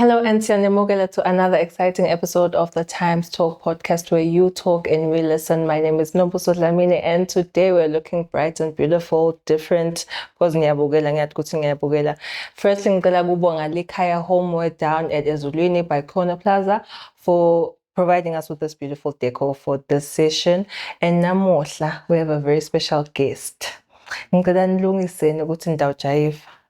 Hello and Sianemogela to another exciting episode of the Times Talk podcast where you talk and we listen. My name is Nobuso Dlamini and today we're looking bright and beautiful, different because ngiyabukela ngiyathi ukuthi ngiyabukela. Firstly ngicela kubonga likhaya homeware down at Ezulwini by Corner Plaza for providing us with this beautiful decor for this session. And namuhla we have a very special guest. Ngicela nilungiseni ukuthi ndawujayiva.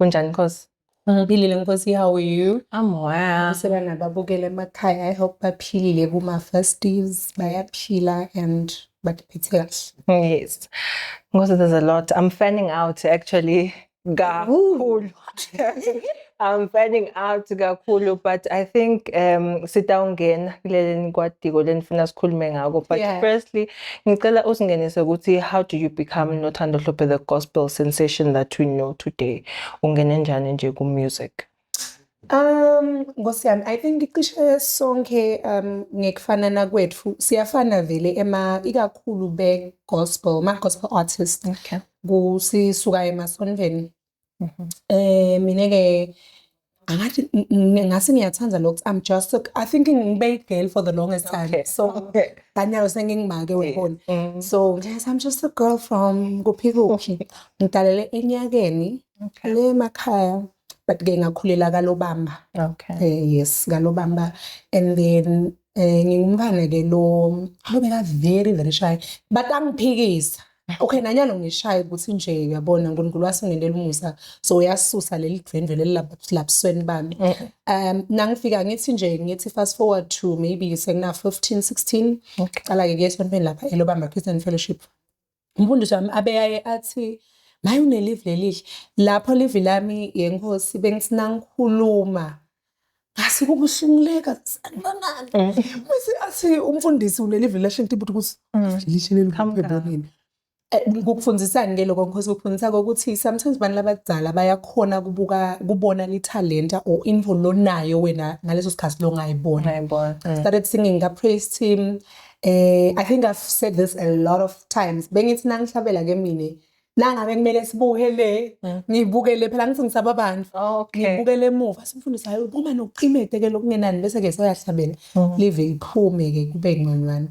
Kunjani Nkosi? Ngiphilile Nkosi, how are you? I'm well. Useba nababukele emakhaya, I hope baphilile kuma festives, bayaphila and bakuphethe kahle. Yes. Nkosi, there's a lot. I'm fanning out actually kakhulu. I'm fanning out kakhulu but I think um sitawungena kuleleni kwadiko lenifuna sikhulume ngako but Yeah. firstly Ngicela usingenise ukuthi how do you become Nothando Hlophe the gospel sensation that we know today? Ungene njani nje ku music? Um Nkosi yami I think cishe sonke um ngekufanana kwethu siyafana vele ema ikakhulu be gospel ma gospel artist. Okay. Kusisuka emasonveni Mhm. Eh mina ke angathi n- n- ngase ngiyathanda lokhu I'm just so, I think ngibe girl for the longest time. Okay, So okay. kanyalo sengingimake webona. Mm. So yes I'm just a girl from kuphikuphi. Ngidalele enyakeni Okay. le makhaya but ke ngakhulela kalobamba. Okay. Eh yes kalobamba and then eh ngingumfana ke lo lo beka very very shy but angiphikisa. okay nanyana ungishaye ukuthi nje uyabona unkulunkulu wasingenela umusa so uyasusa leli dvendwe leli labusweni bami eh, eh. um nangifika ngithi nje ngithi fast forward to maybe sekuna 15 16 qala-ke kuye esontweni lapha elobamba christian fellowship umfundisi wami abeyaye athi maye unelivi lelihle lapho livi lami yenkosi bengisinangikhuluma ngase kubuhlunguleka sanibangani mase mm. athi umfundisi uleli revelation tip ukuthi mm. lishe leli kuphebonini eh, ngokufundisani ke lokho ngikhoza ukufundisa ukuthi sometimes abantu labadala bayakhona kubuka kubona lithalenta or info lonayo wena ngaleso sikhathi lo ngayibona mm. started singing ka praise team eh i think i've said this a lot of times bengithi nangihlabela ke mina nangabe kumele sibuke le mm. ngibuke le phela ngithi ngisaba abantu oh, ngibuke le muva simfundisa hayi uma nokuqimete ke lokungenani bese ke soyahlabela mm. live iphume ke kube ngconywana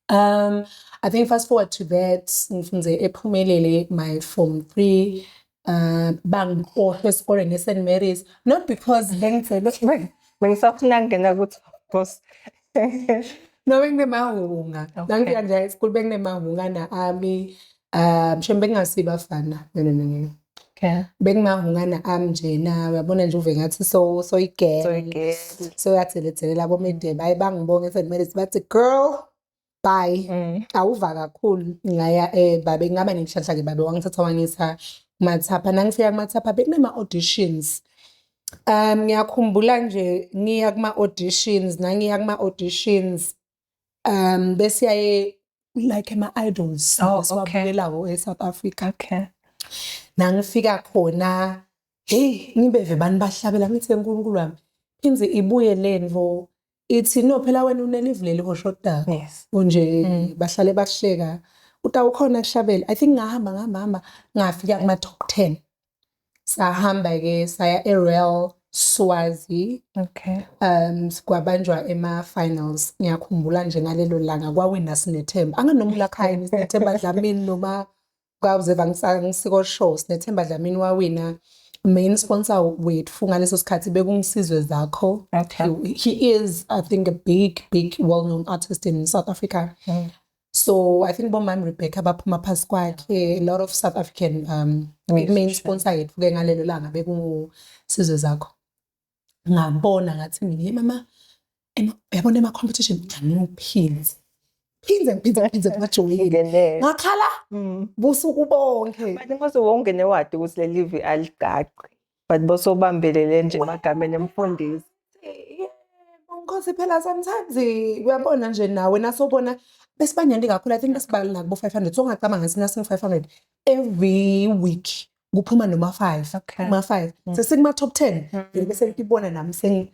um i think fast forward to that ngifunze ephumelele my form 3 uh bangikhohlwe esikoleni eSt Mary's not because bengicela bengisafuna ngena kuthi boss no benginemahunga nangifika nje esikoleni benginemahunga na ami Ah, mshembe bekungasibo abafana. No no no no. Okay. Bekungahungana ami nje na uyabona nje uve ngathi so so igirl. So igirl. So uyathelethelele labo mede baye bangibonge sekumele sibathi girl bye. Mm. Awuva kakhulu ngaya eh babe ngaba nenhlanhla ke babe wangithatha wangisa mathapha nangifika kumathapha bekunema auditions. Um ngiyakhumbula nje ngiya kuma auditions nangiya kuma auditions um besiyaye like ama-idols Oh, esiwabukelawo e-south africa okay nangifika khona heyi ngibeve bani bahlabela ngithi nkulunkulu wami inze ibuye le nto ithi no phela wena unelivuleli hoshoda yes kunje Mm. bahlale bahleka utawukhona kushabela i think ngahamba ngahamba hamba ngafika kuma-top ten sahamba ke saya eRoyal Swazi okay um kwabanjwa ema finals ngiyakhumbula nje ngalelo langa kwawina sinethemba anganomula khaya sinethemba Dlamini noma kwawuze vangisiko show sinethemba Dlamini wawina main sponsor wethu ngaleso sikhathi bekungisizwe zakho okay. he, he is i think a big big well known artist in south africa mm. so i think bomam rebecca baphuma phasi kwakhe a lot of south african um main sponsor yethu ke ngalelo langa bekusizwe zakho ngabona ngathi mina hey mama yabona ema-competition ngiphinde phinde ngiphinde ngiphinde ngajolile ngakhala mm. busuku bonke manje mase wonke newadi ukuthi leli vi aligaqi but bosobambelele nje emagameni emfundisi Nkosi phela sometimes eh, uyabona nje nawe nasobona besibanyandi kakhulu i think besibala kubo 500 so ungacabanga ngathi nasingu 500 every week kuphuma noma 5 okay. uma 5 mm. sesikuma top 10 mm. bese ngibona nami sengi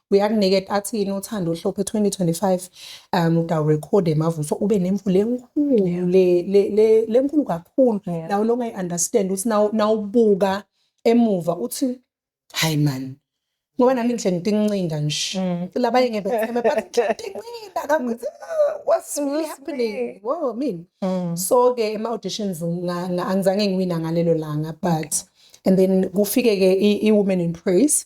uyakuniketa athini uthando uhlophe 2025 um udawurekhode mavuso ube nemvula enkulu le- le- le- lenkulu kakhulu Yeah. nawo longa i-understand ukuthi nawu- nawubuka emuva uthi hayi mani ngoba nami ngihle ngitincinda nje Mm. labanye ngebetheme but ngitincinda kakuthi "Ah, what's really happening wo mina Mm. so ke ema auditions nga- nga- angizange ngiwina ngalelo langa but and then kufike ke i- i-women in praise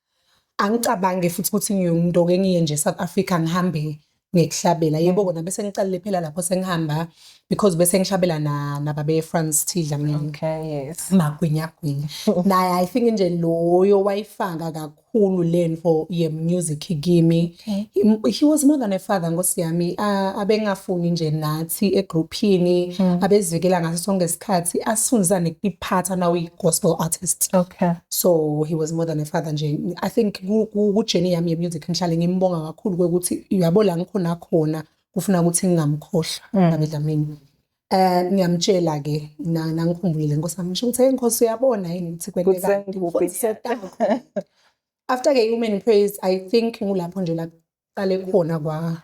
angicabange futhi ukuthi ngiyomuntu oke ngiye nje South Africa ngihambe ngikuhlabela yebo kona bese ngiqalile phela lapho sengihamba because bese ngihlabela na nababe France Thidla mina okay yes magwinya gwinya naye i think nje loyo wayifanga kakhulu lento ye music kimi Okay. He was more than a father nkosi yami abengafuni nje nathi egrouphini hmm. abezivikela ngaso sonke isikhathi asifundisane kuphatha now we gospel artist. Okay. So he was more than a father nje. I think ku journey yami ye music ngihlale ngimbonga kakhulu ukuthi uyabo la ngikhona khona kufuna ukuthi ngingamkhohlwa hmm. ngabedlamini. Eh ngiyamtshela ke nangikhumbulile nkosi yami ngisho ukuthi hey nkosi uyabona yini ukuthi kwenteka. Kusengubi. after ke human praise i think ngulapho nje la qale khona kwa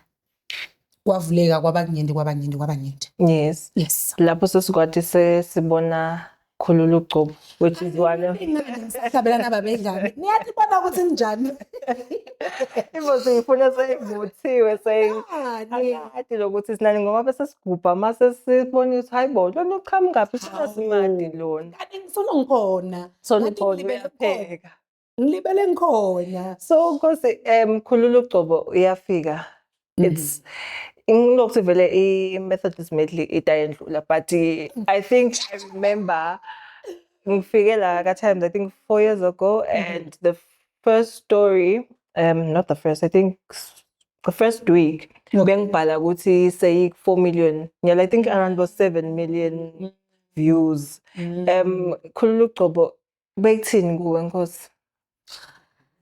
kwavuleka kwabakunyenti kwabanyenti kwabanyenti yes yes lapho sesikwathi sesibona khulula ugcobo which is one of sabelana babedlala niyathi bona ukuthi njani ibo siyifuna seyivuthiwe seyikade lokuthi sinani ngoba bese sigubha mase sibona ukuthi hayibo lona uqhamuka phi simasimandi lona kanti ngifuna ngikhona so nibona uyapheka ngilibele ngikhona so nkosi um khulula ugcobo uyafika mhm. it's ngilokuthi vele i-methodist medley itayendlula but i think i remember ngifike la ka-times i think four years ago mhm. and the first story um not the first i think the first week bengibhala ukuthi seyi-four million nyala i think around bo-seven million mm. views mm. um khulula ugcobo Bekuthini kuwe Nkosi?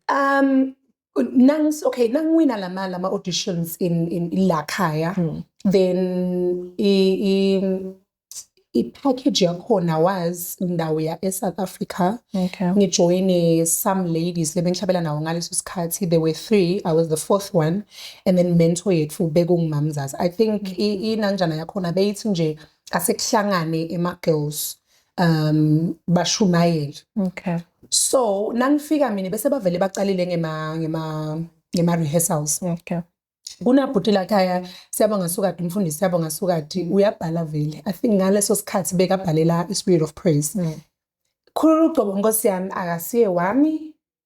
Um nangs okay nangiwina lama lama auditions in in la khaya hmm. then i i i-package yakhona was ndawo ya e-south africa okay. ngijoyine some ladies lebengihlabela nawo ngaleso sikhathi there were three i was the fourth one and then mentor yethu bekungumamzazi i think mm -hmm. inanjana yakhona beyithi nje asekuhlangane ema-girls um bashumayeli okay so nangifika mina bese bavele baqalile ngema ngema ngema rehearsals okay kunabhuti lakhaya siyabonga sukade umfundisi siyabonga sukade mm. uyabhala vele i think ngaleso sikhathi bekabhalela i-spirit of praise mm. khulula ugcobo nkosi yami akasiye wami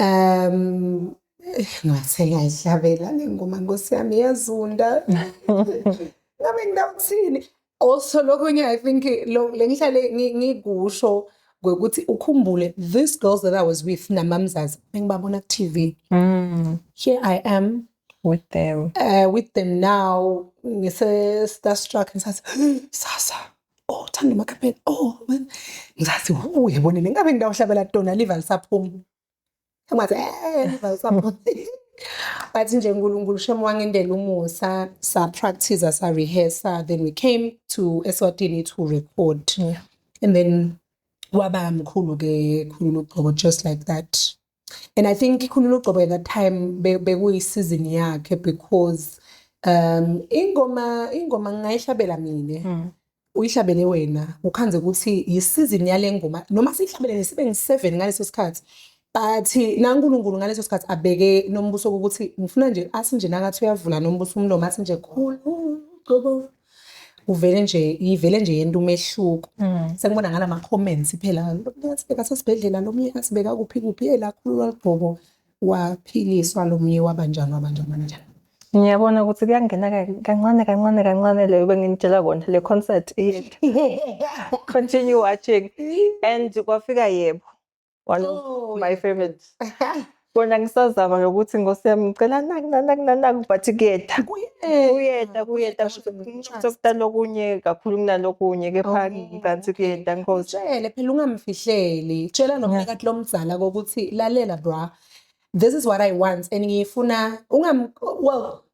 Um ngase ngayidlabela le ngoma nkosi yami iyazunda ngabe ngidawuthini also lokunye i think le ngihlale ngikusho ngokuthi ukhumbule this girls that i was with namamzazi engibabona ku-tv mm. here i am with them uh, with them now ngise-starstruck ngisathi sasa oh thanda umakhaphela oh ngizathi wu yebone le ngabe ngidawuhlabela tona liva lisaphuma ngathi eh liva lisaphuma bathi nje uNkulunkulu shem wangendela umusa sa practice sa rehearse then we came to Eswatini to record yeah. and then waba mkhulu ke khulu ugqoko just like that and i think ikhulula ugcobo at that time bekuyisizini yakhe because um ingoma ingoma ngingayishabela mina mm. uyihlabele wena ukhanze ukuthi yisizini yale ngoma noma siyihlabelele sibe ngi-seven ngaleso sikhathi but nankulunkulu ngaleso sikhathi abeke nombuso ukuthi ngifuna nje athi nje nakathi uyavula nombuso umlomo athi nje khulu uvele nje ivele nje yento umehluko mm. sekubona ngala ma comments phela lomnye asibeka sesibhedlela lomnye asibeka kuphi kuphi elakhululwa ligqoko waphiliswa lomnye wabanjani wabanjani wabanjani Ngiyabona ukuthi kuyangena kancane kancane kancane leyo benginitshela kona le concert iyehla. Continue watching and kwafika yebo. one of oh, my favorite kona ngisazama nokuthi ngosi yami ngicela naku nanaku nanaku but kuyeda kuyeda kuyeda sokudala okunye kakhulu kunalokunye kepha oh. ngikanti kuyeda nkosi tshele phela ungamfihleli tshela nomphakathi lomdzala kokuthi lalela bra this is what i want and ngiyifuna ungam well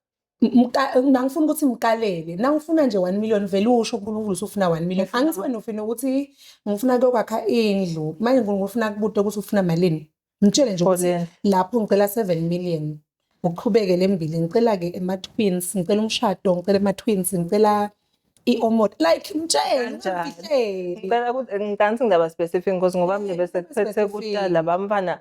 nangifuna ukuthi ngikalele nangifuna nje one million vele usho unkulunkulu usufuna one million angithi wena ufina ukuthi ngifuna kuyokwakha indlu manje unkulunkulu ufuna kubude ukuthi ufuna malini mtshele nje ukuthi lapho ngicela seven million uqhubeke le mbili ngicela-ke ema-twins ngicela umshado ngicela ema-twins ngicela i-omot like mtshelengicela ukuthi ngicela ukuthi ngidaba specific because ngoba mina bese kuphethe kuqala bamfana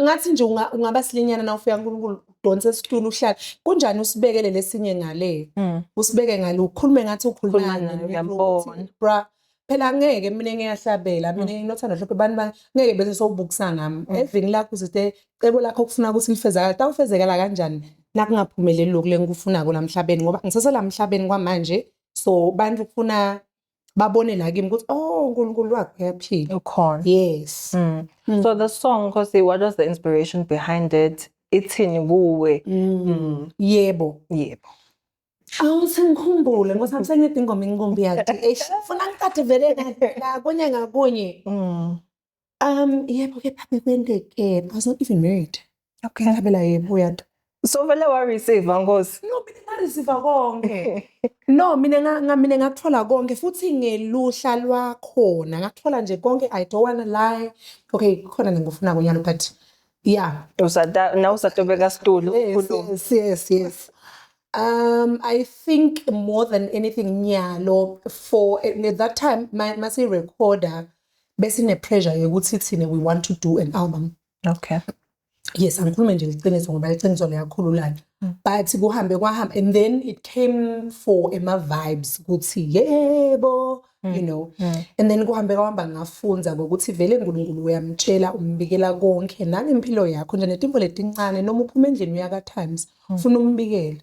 ngathi nje ungaba silinyana na ufika uNkulunkulu udonse isitulo uhlala kunjani usibekele lesinye ngale mm. usibeke ngale ukhulume ngathi ukhuluma ngiyambona bra phela ngeke mina ngiyahlabela mina mm. nginothando hlophe abantu ba ngeke bese sowubukisa ngami mm. evini lakho usithe cebo lakho ukufuna ukuthi lifezakala tawufezekala kanjani nakungaphumeleli lokhu lengikufuna kula mhlabeni ngoba ngisese la mhlabeni kwamanje so bantu kufuna babone la kimi ukuthi oh uNkulunkulu wakho uyaphila ukhona yes mm. Mm. so the song Nkosi what was the inspiration behind it ithini kuwe mm. Mm. yebo yebo Awu sengikhumbule ngoba sami sengiyedinga ingoma inkumbi yakhe. Eish, funa ngikade vele la kunye ngakunye. Mm. Um, yebo kepha bekwenteke. I was not even married. Okay. Ngabela yebo uyanto. So vele wa receive ngosi. No, mina nga receive konke. no, mina nga nga- mina ngakuthola konke futhi ngeluhla lwakhona. Ngakuthola nje konke I don't wanna lie. Okay, khona ngikufuna kunyalo but yeah. Usata na usatobeka stulu. Yes, ukhulume. yes, yes, yes. Um, I think more than anything, Nyalo, for at that time, my masi recorder, besine pressure yokuthi thina we want to do an album okay yes angikhulume nje liqiniso ngoba liqiniso liyakhululana mm. but kuhambe kwahamba and then it came for ema vibes ukuthi yebo mm. you know mm. and then kuhambe kwahamba ngafunza ngokuthi vele uNkulunkulu uyamtshela umbikela konke nangempilo yakho nje netimbo letincane noma uphuma endlini uyaka times ufuna umbikele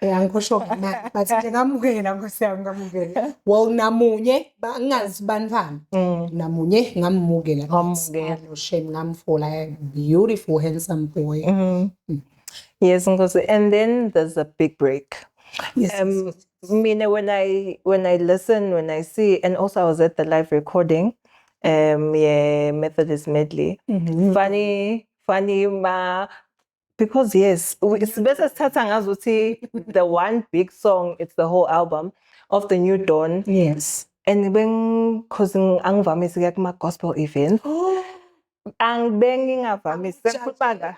angikhosho ngamanga but nje ngamukela nkosi yami ngamukela well namunye ngingazi banifana mm. namunye ngamumukela ngamukela no shame ngamfola beautiful handsome boy mm. Mm. yes nkosi and then there's a big break yes, um, yes. mina when i when i listen when i see and also i was at the live recording um yeah methodist medley mm -hmm. funny funny ma because yes sibese sithatha ngazo ukuthi the one big song it's the whole album of the new dawn yes and beng cause angivamise kuya kuma gospel events oh. angibengingavamise ngikhuluma la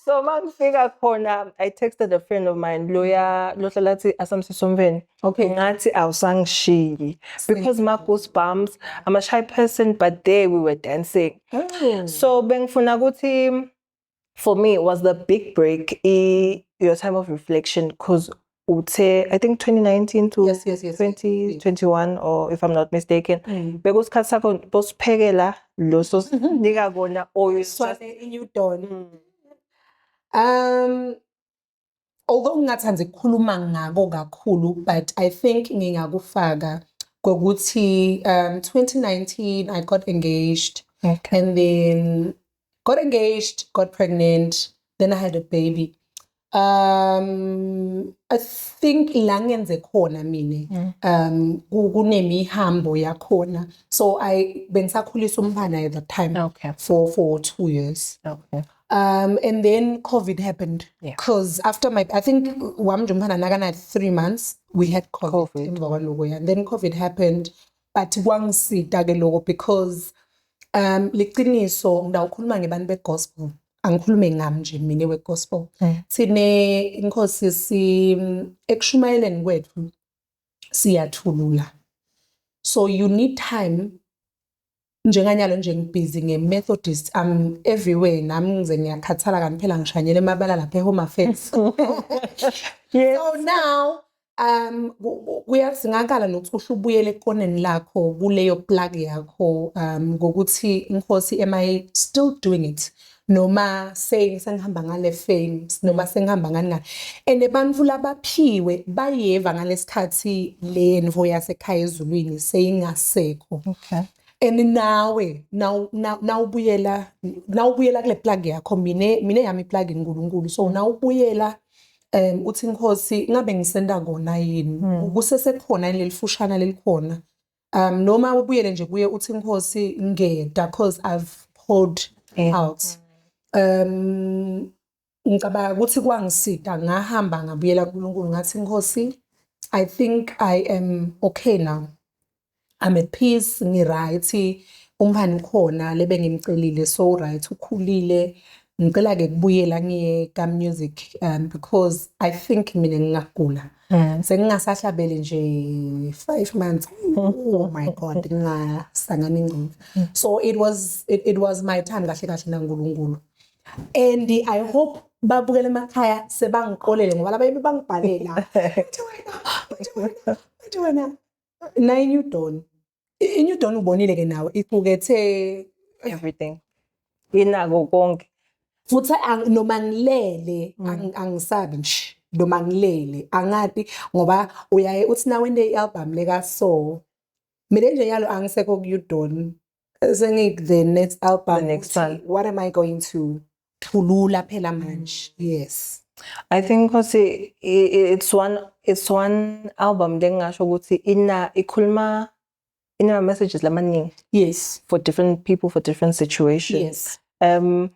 so mangifika khona i texted a friend of mine loya lohlala athi asamsisomveni Okay, ngathi awusangishiyi because my goosebumps, I'm a shy person but there we were dancing. Mm. So bengifuna ukuthi for me was the big break i your time of reflection because uthe I think 2019 to yes, yes, yes, 2021 or if I'm not mistaken mm. bekusikhathi sakho bosiphekela lo sosinika kona oyiswane inyudon. Mm. Um although ngingathanda ukukhuluma ngako kakhulu but i think ngingakufaka kokuthi um 2019 i got engaged okay. and then got engaged got pregnant then i had a baby um i think la ngenze khona mina mm. um kunemihambo yakhona so i bengisakhulisa umntana at that time okay. for for 2 years okay Um, and then COVID happened because yeah. after my, I think Wamjumhana Nagana had three months, we had COVID, COVID. and then COVID happened. But one si dagelogo because um liqiniso ngidawukhuluma ngebantu begospel angikhulume ngami nje mina wegospel mm. sine inkosi si ekushumayeleni kwethu siyathulula so you need time njenganyalo nje ngibhizi nge-methodist am everywhere nami ngize ngiyakhathala kanti phela ngishanyela emabala lapha e-home affairs yes. so now um kuyasingakala nokuthi uhle ubuyele ekoneni lakho kuleyo plug yakho um ngokuthi inkosi am i still doing it noma sake sengihamba ngale fame noma sengihamba ngani ngani and abantu labaphiwe bayeva ngalesikhathi le nvo yasekhaya ezulwini seyingasekho okay and nawe nawubuyela nawubuyela kule plug yakho mina mina yami plug iNkulunkulu so nawubuyela um uthi inkosi ngabe ngisenda kona yini hmm. kusesekhona lelifushana lelikhona um noma ubuyele nje kuye uthi inkosi ngeda cause i've poured yeah. out um ngicabanga ukuthi kwangisida ngahamba ngabuyela kuNkulunkulu ngathi inkosi i think i am okay now i'm at peace ngiright umhani ukhona lebe ngimcelile so right ukhulile ngicela ke kubuyela ngiye ka music um because i think mina ngingagula um sengingasahlabeli nje five months oh my god ngingasangana ingcina so it was it, it was my time kahle kahle nankulunkulu and i hope babukela emakhaya sebangiqolele ngoba laba yimi bangibhalela bathi wena bathi wena bathi wena nine you don't I-New Dawn ubonile ke nawe iqukethe everything inako konke futhi noma ngilele mm. angisabi nje noma ngilele angati ngoba uyaye uthi nawe into i-album leka so mina nje yalo angisekho ku-udon sengiku the next album the next one what am i going to thulula phela manje yes I think ukuthi it's one it's one album lengingasho ukuthi ina ikhuluma ina messages lamaningi yes for different people for different situations yes um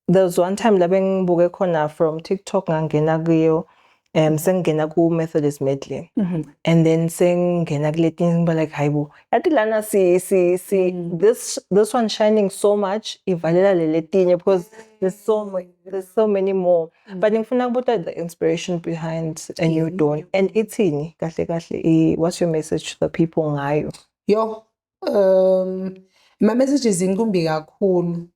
there was one time la bengibuke khona from TikTok ngangena kuyo um sengingena ku-methodist medley Mhm. and then sengingena kuletinye ngiba like hayi bo yathi lana si, si, si Mm. this, this one shining so much ivalela le letinye because there's so, ma- there's so many more Mm. but ngifuna kubuta the inspiration behind a new Mhm. dawn and ithini kahle kahle i- what's your message to the people ngayo Yo, um, my message is inkumbi kakhulu.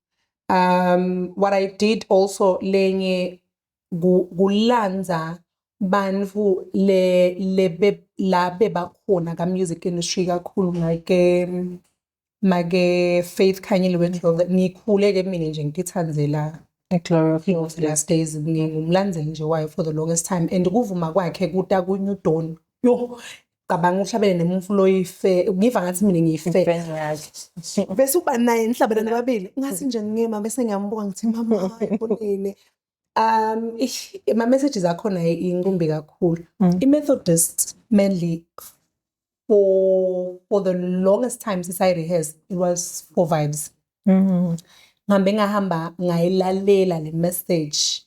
Um, what I did also lenye kulandza bantfu le lebe la bebakhona ka music industry kakhulu make make Faith Khanyile weNdlovu ngikhule ke mina nje ngitithandzela Glory of Glory of the Last Days ngingumlandzeli nje wayo for the longest time and kuvuma kwakhe kuta ku New Dawn yo cabanga uhlabele nemufu loyife ngiva ngathi mina ngiyife bese uba naye nihlabelana babili ngathi nje ngima bese ngiyambuka ngithi mama hayi bonile Um ish, ama messages akhona inkumbi kakhulu. Mm. I Methodist mainly for for the longest time since I rehearsed it was for vibes. Mm. Ngihambe ngahamba ngayilalela le message.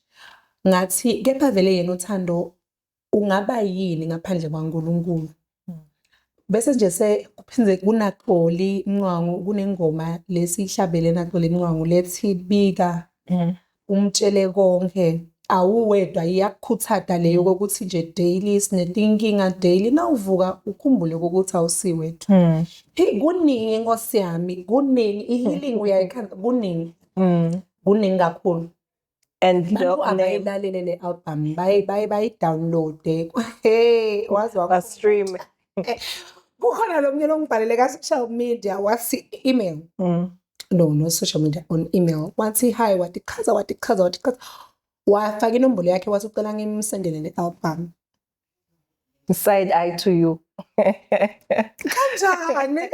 Ngathi kepha vele yena uthando ungaba yini ngaphandle kwaNkulunkulu hmm. bese nje sekuphinde kunaxoli mncwango kunengoma lesihlabele naxoli mncwango lethi bika hmm. umtshele konke awuwedwa iyakukhuthata leyo kokuthi nje daily sinetinkinga daily nawuvuka ukhumbule ukuthi awusiwethu hmm. hey kuningi inkosi yami kuningi ihealing uyayikhanda kuningi kuningi kakhulu and the Abantu name abayilalele le album baye baye bayidownloade hey wazi wakho stream kukhona lo mnyeni ongibhalele ka-social media wathi email Mm. no no social media on email wathi hi watichaza watichaza watichaza wafaka inombolo yakhe wathi ucela ngimsendele le album side eye to you kanjani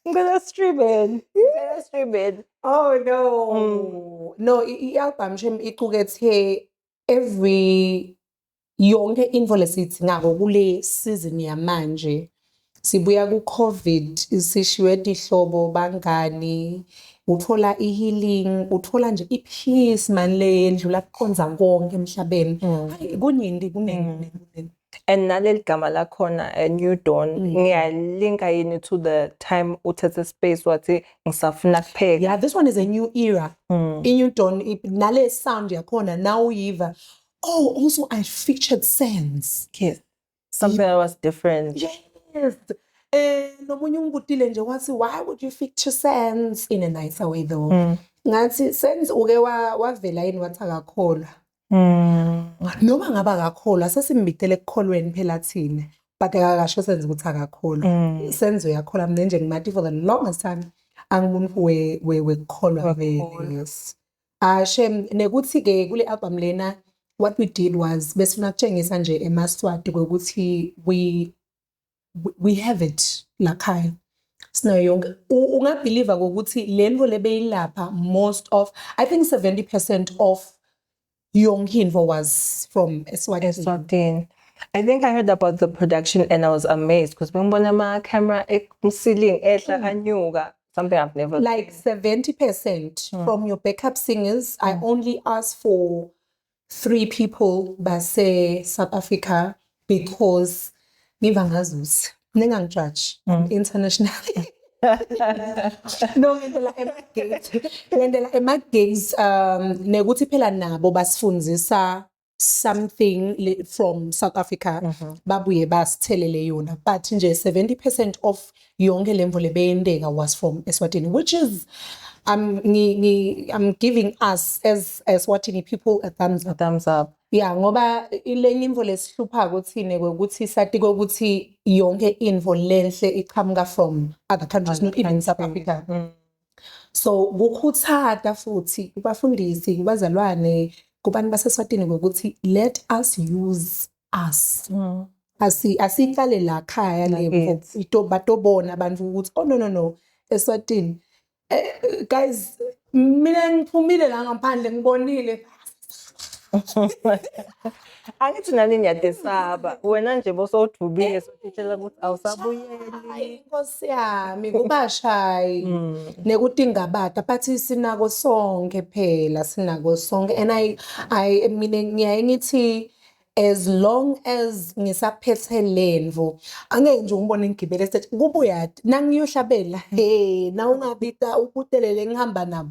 ngicela streaming ngicela streaming oh no mm. no i-album shem iqukethe every yonke info lesithi ngako kule season yamanje Sibuya ku Covid sishiywe tihlobo bangani uthola i healing uthola nje i peace mani le yendlula kuqonza konke emhlabeni mm. hayi kuningi kuningi mm. kuningi and naleli gama lakhona a eh, new dawn mm. ngiyalinka yini to the time uthethe space wathi ngisafuna kupheka yeah this one is a new era mm. i new dawn nale sound yakhona now uyiva oh also i featured sense yes something that was different yes eh nomunye ungibutile nje wathi why would you fit to sense in a nicer way though mm. ngathi sense uke wavela yini wathi akakholwa mm. noma ngaba akakholwa sesimbitele ekukholweni phela thina but akakasho senze ukuthi akakholwa mm. senze uyakholwa mina nje ngimathi for the longest time angiboni wekukholwa vele yes Ah shem nekuthi ke kule album lena what we did was besifuna kutshengisa nje emaswati kokuthi we we have it la khaya sinayo yonke ungabhiliva ngokuthi le nto le beyilapha most of i think 70 percent of yonke into was from eswatini I think I heard about the production and I was amazed because bengibona ama camera emsiling ehla mm. anyuka something I've never like seventy percent mm. from your backup singers. Mm. I hmm. only ask for three people by say South Africa because ngiva ngazuzi ningangijudge mm. internationally no ngendlela emagate ngendlela emagates um nekuthi phela nabo basifundisa something le- from south africa Mhm. babuye basithelele yona but nje 70 percent of yonke le mvula ebeyenteka was from eswatini which is I'm, ngi, ngi, I'm giving us as eswatini people a thumbs up thumbs up ya ngoba ilenye imvo lesihlupha kuthine ukuthi sati kokuthi yonke imvo lenhle iqhamuka from other countries not even south africa Mm. so kukhuthata futhi kubafundisi kubazalwane kubantu baseswatini ngokuthi let us use us mm. asi asiqale la khaya lepo ito batobona abantu ukuthi oh no no no eswatini eh, guys mina ngiphumile la ngaphandle ngibonile angithi nani ngiyadesaba wena nje bosowudubile eh. sothishela ukuthi awusabuyeli inkosi yami kubashayi mm. nekuthi ingabada but sinako sonke phela sinako sonke and i i mina ngiyaye ngithi as long as ngisaphethe lemvu angeke nje umbone ngigibele stage kubuyati nangiyohlabela he na ungabita ubutelele ngihamba nabo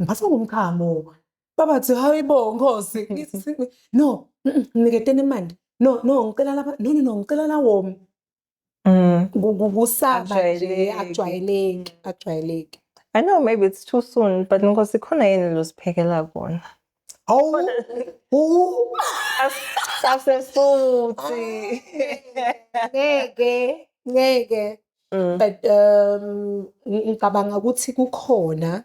ngiphathwa ngumkhamo babathi hayi bo nkosi no ngiketena imali no no ngicela laba no no no ngicela lawomi mm. kusaba nje akujwayeleki akujwayeleki I know maybe it's too soon but nkosi khona yini loziphekela kona awu asesuthi ngeke ngeke Mm. but um ngicabanga ukuthi kukhona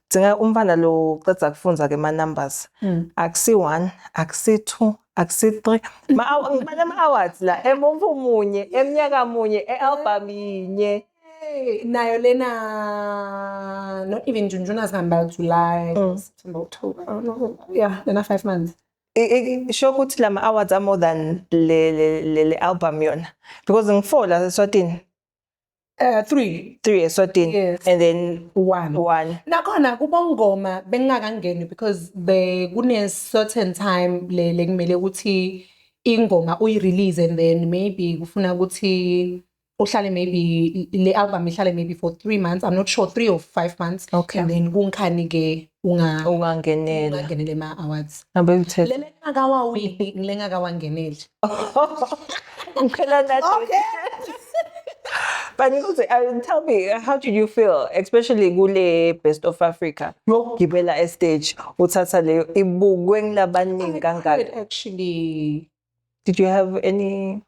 Dzinga umfana lo uceda kufunza ke ma numbers. Mm. Akusi 1, akusi 2, akusi 3. Ma ngibale ama awards la emumva umunye, emnyaka munye, ealbum yinye. Hey, nayo lena not even June, June has come back July, mm. September, October. Oh, no. Yeah, lena 5 months. isho ukuthi lama awards are more than le le, le, le album yona because ngifola eswatini Uh, three. Three eswatini. Yes. And then one. One. Nakhona kubongoma bengingakangeni because be kune certain time le le kumele ukuthi ingoma uyirelease and then maybe kufuna ukuthi uhlale maybe le album ihlale maybe for 3 months i'm not sure 3 or 5 months Okay. and then kunkhani ke unga ungangenela ungangenela ema awards abekuthethe lele ngakawawini ngile ngakawangeneli ngicela nathi okay but ngizothi uh, tell me uh, how did you feel especially kule best of africa yokugibela estage uthatha leyo ibukwe ngilabaningi kangaka actually did you have any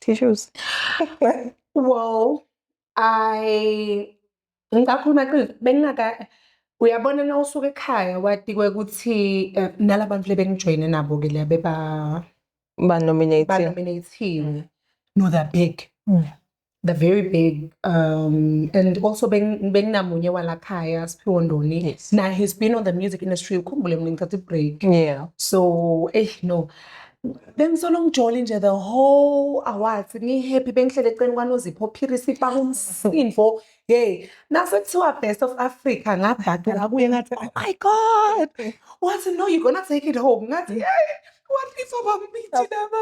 tissues well i Ngisakhuluma qiniso bengingaka uyabona na usuke ekhaya watikwe ukuthi eh, nala bantu lebengijoyine nabo ke leya beba banominating banominathiwe no they're big Mm. they're very big um and also beng- benginamunye walakhaya siphiwo ndoni Yes. na he's been on the music industry ukhumbule mina ngithatha i-break yeah so eish no bengisolo ngijole nje the whole awards ngihappy bengihlele eceleni kwanozipho phiri sipa umsindo hey nase kuthiwa best of africa ngabhadela kuye ngathi oh my god wathi no you gonna take it home ngathi hey what if abambithi laba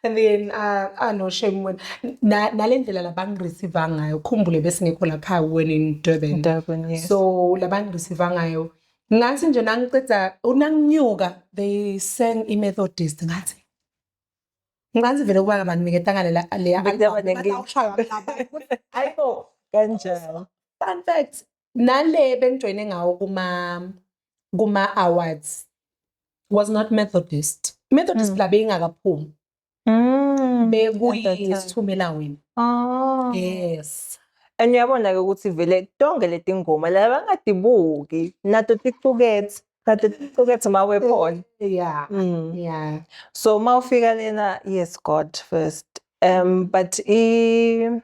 and then uh, ah no shame wena Na- nale ndlela labangireceiva ngayo khumbule besingekho lapha when in durban Durban, yes. so labangireceiva ngayo ngathi nje nangiceda unanginyuka they sang imethodist ngathi ngathi vele kuba kabantu ngiketanga lela le ayibo kanjalo fun fact nale bengijoyine ngawo kuma kuma awards was not methodist methodist mm. la beyingakaphumi Mm, bekuyisithumela wena oh. yes and uyabona-ke ukuthi vele tonke leti ngoma la bangadibuki nato ticukethe kade ticukethe uma wephona yeah mm. yeah so uma ufika lena yes god first um but i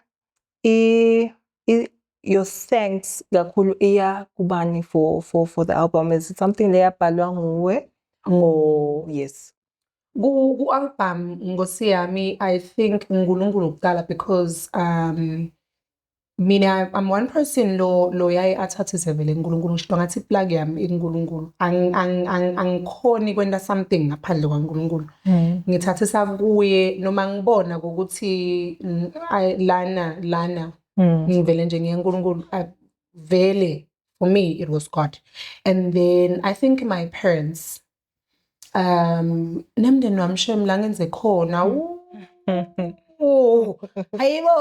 i your thanks kakhulu iya kubani for for for the album is it something leyabhalwa nguwe mm. or yes Ku-album Nkosi Yami, I think uNkulunkulu kuqala because um mina I'm one person lo lo yaye athathe sevele uNkulunkulu ngisho ngathi plug yami iNkulunkulu angikhoni kwenta something ngaphandle kwaNkulunkulu hmm. ngithathe sakuye noma ngibona ukuthi lana lana hmm. ngivele nje ngiyaNkulunkulu vele for me it was God and then I think my parents um nemndeni wami shem la ngenze khona hayibo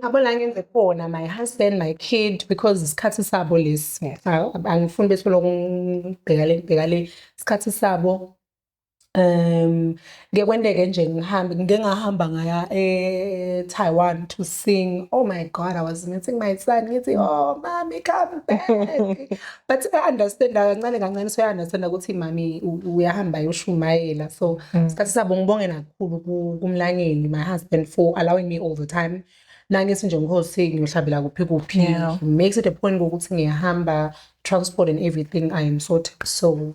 abo la ngenze khona my husband my kid because isikhathi sabo lesi angifuni bethi lokhu ngibheka le ngibheka le isikhathi sabo um ngeke kwenteke nje ngihambe ngike ngahamba ngaya e-taiwan to sing oh my god i was missing my son ngithi oh mami come back but i-understanda kancane kancane soya-understanda ukuthi mami uyahamba yoshumayela so mm. sikhathi sabo ngibonge nakukhulu kumlangeni my husband for allowing me all the time nangithi nje ngihosi ngiyohlabela kuphi kuphi makes it a point kokuthi ngiyahamba transport and everything i am sorted so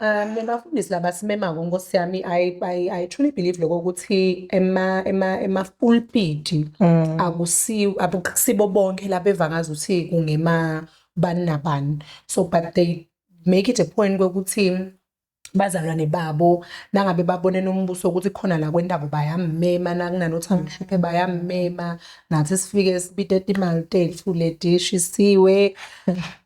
Um, bafundisi laba simemako nkosi yami I, I, I truly believe lokho ukuthi ema ema ema pulpiti mm. akusi akusibo bonke laba evangaza ukuthi kungema bani nabani so but they make it a point kokuthi bazalwane babo nangabe babone nombuso ukuthi khona la kwentabo bayammema nakunanothi amhluphe bayammema nathi sifike sibite imali tethu ledishi siwe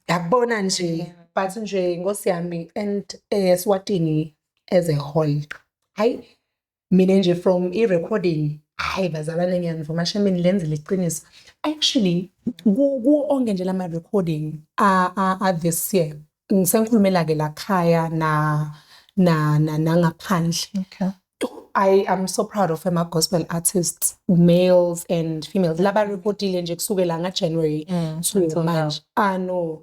yakubona nje but nje nkosi yami and eh swatini as a whole hayi mina nje from i-recording hayi bazalwane ngiyanivuma shemini lenzile iqiniso actually ku-onke nje lama-recording a-this year ngisengikhulumela-ke la khaya na na na nangaphandle okay. I am so proud of my gospel artists, males and females. Laba reportile nje kusukela nga January mm, to manje. Ah no.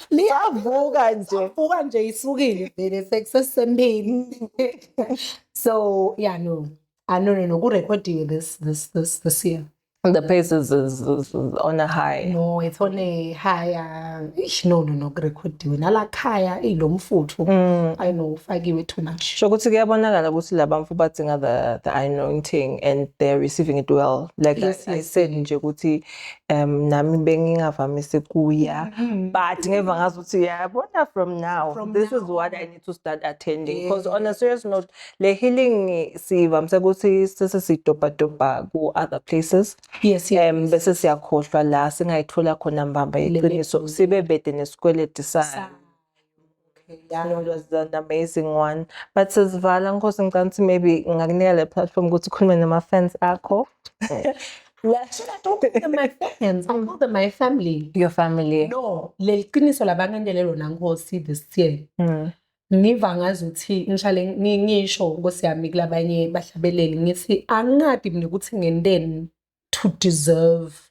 liyavuka nje liyavuka nje isukile vele sekusesempini so yeah no ah no no no kurekhodiwe this this this this year the pace is, is, is on a high no it's on a higher ish no no no kurekhodiwe nalakhaya ilomfuthu mm. i know ufakiwe too much sho ukuthi kuyabonakala ukuthi laba mfu badzinga the the anointing and they're receiving it well like yes, I, yes. i said nje ukuthi um nami bengingavamisi kuya mm-hmm. but ngeva ngazi ukuthi uyabona from now from this now. is what i need to start attending because yeah. on a serious note le healing sivamise ukuthi sese sidobhadobha ku-other places yes, yes. um bese siyakhohlwa la singayithola khona mbamba iqiniso sibe bede nesikweleti sayo Yano was an amazing one. But sesivala nkosi ngicela ukuthi maybe ngakunika le platform ukuthi ukhulume nama fans akho. Yes, I don't call them my fans. I call them my family. Your family. No, leli qiniso labangandele lona nkosi this year. Mm. Ngiva ngazi ukuthi ngishale ngisho nkosi yami kulabanye bahlabeleli ngithi angingadi mina ukuthi ngenteni to deserve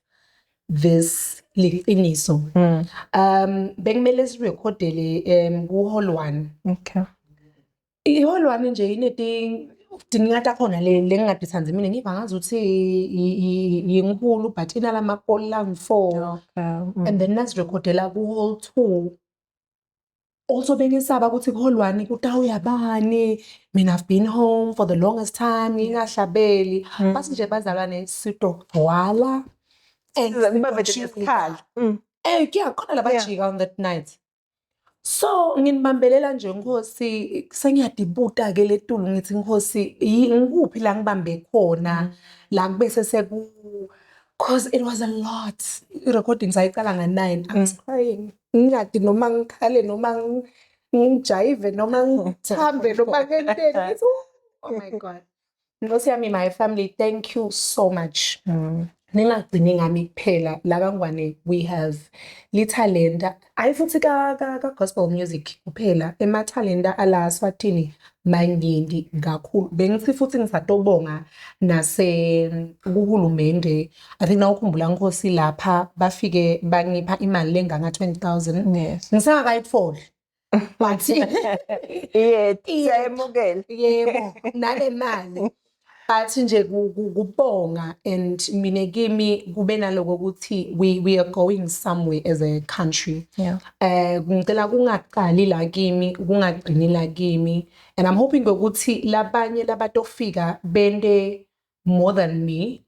this liqiniso mm. um bekumele sirecordele um ku hall 1 okay i hall 1 nje ineti dinga takhona le lengingadithandi mina ngiva ngazi ukuthi yinkulu but inala makola ngifour okay mm. and then nasirecordela ku hall 2 also bengisaba ukuthi kuholwani kutawuya bani mina i've been home for the longest time ngingahlabeli mm. bathi nje bazalwane sidogcwala and sibavejesikhala mm. eh kuyakhona labajika on that night so nginibambelela nje nkosi sengiyadibuta ke letulu ngithi nkosi ngikuphi la ngibambe khona mm. la kube seseku cause it was a lot i-recordings ayiqala nga-nine i was mm. crying ngingathi noma ngikhale noma ngijayive noma ngithambe noma ngenteni oh my god nkosi yami my family thank you so much mm. ningagcini ngami kuphela laba ngwane we have lithalenta ayi futhi ka ka, ka gospel music kuphela emathalenta ala swatini maningi kakhulu bengithi futhi ngisatobonga nase kuhulumende I think nawukhumbula nkosi lapha bafike bangipha imali lenganga 20000 yes ngisengakayitholi but yeah siyayemukela yebo nale mali but nje kubonga and mina kimi kube naloko ukuthi we we are going somewhere as a country yeah eh ngicela kungaqali la kimi kungagcini la kimi and i'm hoping ukuthi labanye labatofika bende more than me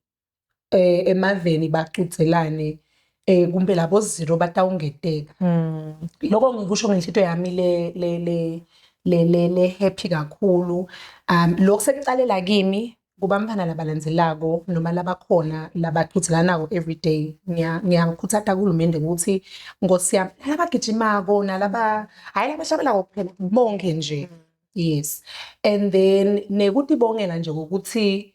eh, emaveni bacudzelane eh kumbe labo zero batawungeteka mm. lokho ngikusho ngenhlitiyo yami le le le le le le happy kakhulu um lokho sekucalela kimi kubamfana labalandzelako noma labakhona labaqhuthilanako every day ngiyakhuthata kuhulumende ukuthi nkosi yami nalabagijimako nalaba hhayi labashabelako kuphela bonke nje mm. yes and then nekutibongela nje ngokuthi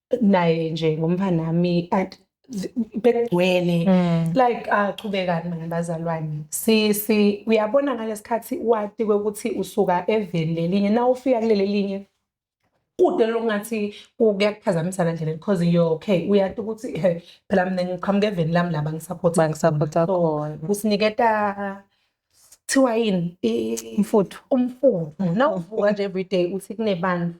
naye nje ngomfanami bekugcwele mm. like achubekani ah, nabazalwane sisi uyabona ngalesikhathi wati kwekuthi usuka eveni lelinye na ufika kuleli linye kude lokungathi kuyakuphazamisa la ndlela because you're okay uyati ukuthi eh, phela mina ngiqhamuka eveni lami laba ngisupporta bangisupporta khona usiniketa kuthiwa yini umfuthu umfuthu nawuvuka nje everyday uthi kunebantu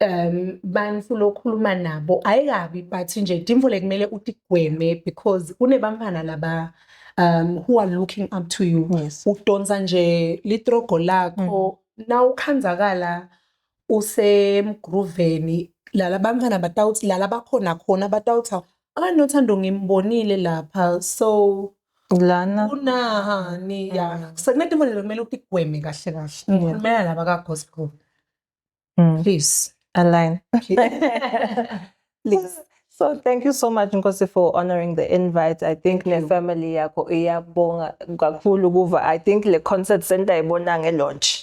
um bantu lokhuluma nabo ayikabi but nje dimvule kumele utigweme because kunebamfana laba um who are looking up to you yes. udonsa nje litrogo lakho mm. na ukhanzakala usemgruveni lala bamfana batawuthi lala bakhona khona batawuthi anothando ngimbonile lapha so lana kunahani ya mm. sekunedimvule kumele utigweme kahle kahle ngikhulumela laba ka-gospel mm. please align please So thank you so much Nkosi for honoring the invite. I think ne family yakho iyabonga kakhulu kuva. I think le concert center ibona nge launch.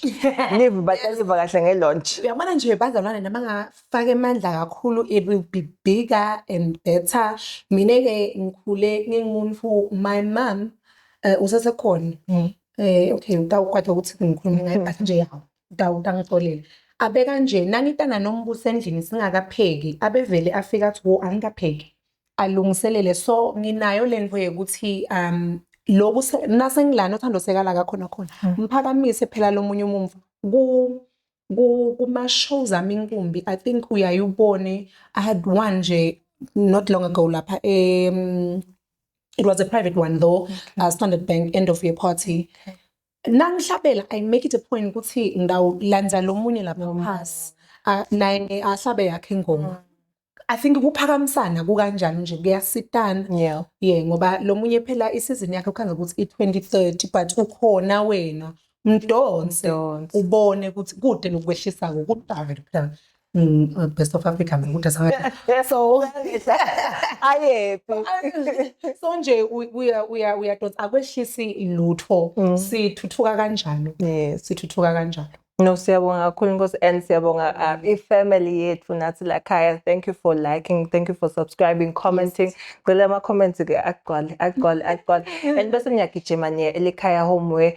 Live bataliva kahle nge launch. Uyabona nje bazalwane nama ngafaka emandla kakhulu it will be bigger and better. Mina ke ngikhule ngingumuntu my mom uh, usesekhona. Mm. Eh okay ngitawukwatha ukuthi ngikhuluma ngayo but nje yawo. Dawuda angixolele abe kanje nangitana nombuso endlini singakapheki abevele afika athi wo angikapheki alungiselele so nginayo lento yekuthi um loku nasengilana uthando sekala kakhona khona hmm. mphakamise phela lomunye umumva ku kuma shows ami inkumbi i think uyayubone i had one nje not long ago lapha um it was a private one though okay. uh, standard bank end of year party okay. nangihlabela i make it a point ukuthi ngawulandza lomunye lapha phasi A- naye ahlabe yakhe ingoma i think kuphakamisana kukanjani nje kuyasitana Yeah. ye ngoba lomunye phela isizini yakhe kukhanga ukuthi i-2030 but ukhona wena mdonse Mdonse. ubone ukuthi kude nokwehlisa-ko kudala phela Mm, uh, best of Africa mina ukuthi asanga so ayephi so nje uya uya uya dot akwehlisi lutho mm. sithuthuka kanjalo yes sithuthuka kanjalo No siyabonga kakhulu Nkosi and siyabonga uh, mm. i-family yethu nathi la khaya. Thank you for liking, thank you for subscribing, commenting. Ngicela ama comments ke agcwale, agcwale, agcwale. And bese ngiyagijima niye elikhaya home where